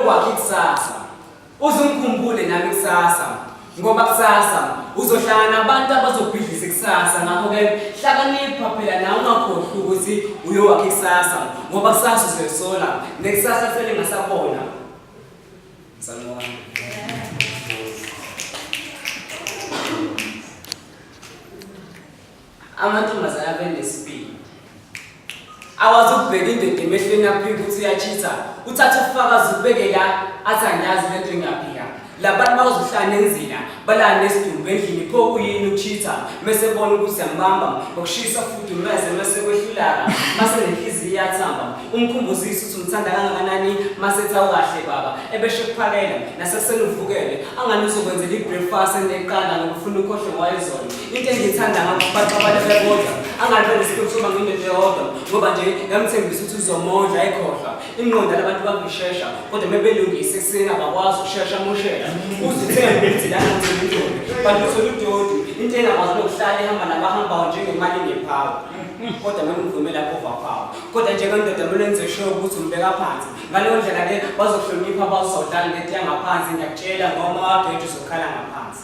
kwakhe kusasa uzungikhumbule nami kusasa ngoba kusasa uzohlangana nabantu abazobhidlisa kusasa ngakho-ke hlakanipha phela nawe ungakhohlwa ukuthi uyowakhe kusasa ngoba kusasa uzoyisola nekusasa selingasabona Amantombazane abenesibili akwazi ukubheka indoda emehlweni aphike ukuthi uyachitha uthathe ufakazi ubeke la athi angiyazi le nto engaphika labantu bazohlala enzina balala nesidumbu endlini pho kuyini ukuchitha mese bona ukuthi yambamba ngokushisa fudumeze mese kwehlulaka mase nenhliziyo iyathamba umkhumbuzisa ukuthi umthanda kangakanani mase ethi awukahle baba ebesho kuphakela nasekuseni uvukele angani uzokwenzela i-breakfast eneqanda ngokufuna ukhohle wayezona into engiyithanda ngakho abantu abantu bebodwa angalibe nesiqiniseko sokuba nginento yodwa ngoba nje ngamthembisa ukuthi uzomondla ayikhohlwa ingqondo yalabantu bangishesha kodwa uma belungise ekuseni abakwazi ukushesha amoshela uzithembe ukuthi lana ngizimindoni kanti uthole udodi into engakwazi nokuhlala ihamba nabahambayo njengemali ngephawu kodwa noma uvume lapho vaphawu kodwa njengendoda kumele enze sure ukuthi umbeka phansi ngaleyo ndlela ke bazohlonipha bazodlala ngento yangaphansi ngiyakutshela ngoma wageje uzokhala ngaphansi